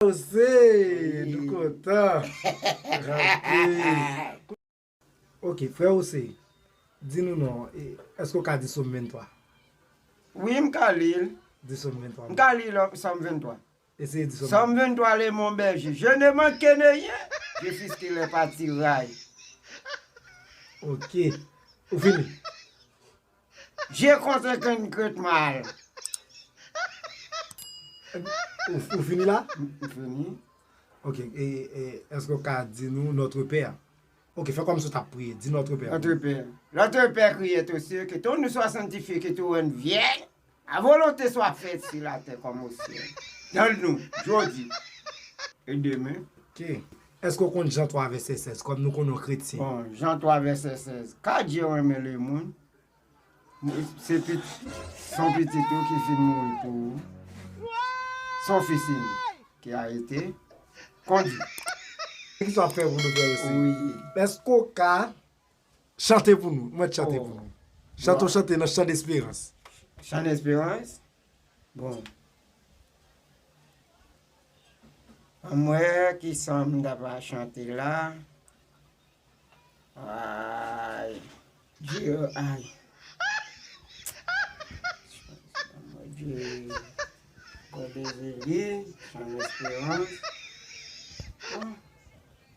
Jose nou kontan anpil. Ok frè Jose di nou non e eske ou ka di som 23. Wi m ka li l. Di som 23. M ka li l som 23. Eseye di som 23. Som 23 le mon berger je ne manque de rien je fiske le patiray. Ok ou fini. Je konte kenn krèt mal. Ou fini la? M fini. Ok, eske ou ka di nou Notre Père? Ok, fè kòmsi ou tap priye. Di Notre Père. Notre Père. Notre Père, kriye tou se ke ton nou swa santifye ke tou rann vyè. A volonte swa fèt si la tè kòm o syèl. Tann nou, jodi e demen. K, Èske w konn Jan 3 vèsè 16, kòm nou konnen w kretyen? Bon, Jan 3 vèsè 16, Ka Dye renmen lemoun, se pit, s on pitit ou ki fin mouri pou ou, s on fis inik, ki a ete, kondi. Ki sa w ap fè pou nou fè w si? Wi. Èske w ka. Chante pou nou, mwen chante pou nou. Chante yon chante nan chan desperans. Chan desperans? Bon. An mwen ki san m ta va chante la. Ay. Diyo ay. Diyo. Kòde zili, chan desperans. Bon.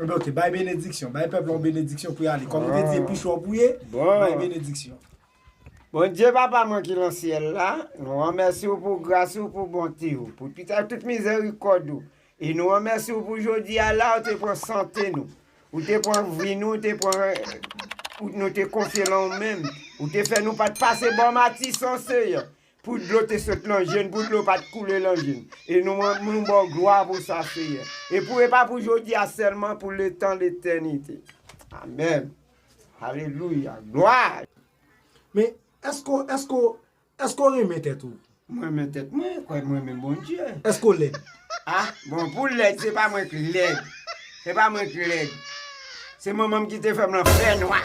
Ok, bay benediksyon. Bay pèp la yon benediksyon pou y ale. Kòm ou te di e pi chò pou ye, bay benediksyon. Bondye Papa mwen ki lan syèl la, nou ranmèsi ou pou gras ou, pou bonte ou, pou tout ak tout mizèrikòd ou. E nou ranmèsi ou pou jodi a la ou te pran sante nou. Ou te pran vi nou, ou te pran nou te konfye lan ou menm. Ou te fè nou pa t pase bò matisan, Seyè. Pou dlo te sot nan je n, pou dlo pa t koule nan je n. E nou an, nou ba w glwa pou sa, Seyè. E pou e pa pou jodi a sèlman, pou letan letènite. Amèn. Alelouya. Glwa! Men, èske w, èske w, èske w renmen tèt ou? M renmen tèt mwen, e kwè m renmen Bondye. Èske w lèd? A, bon, pou lèd, se pa mwen k lèd. Se pa mwen k lèd. Se manman m ki te fè m lan fènwa.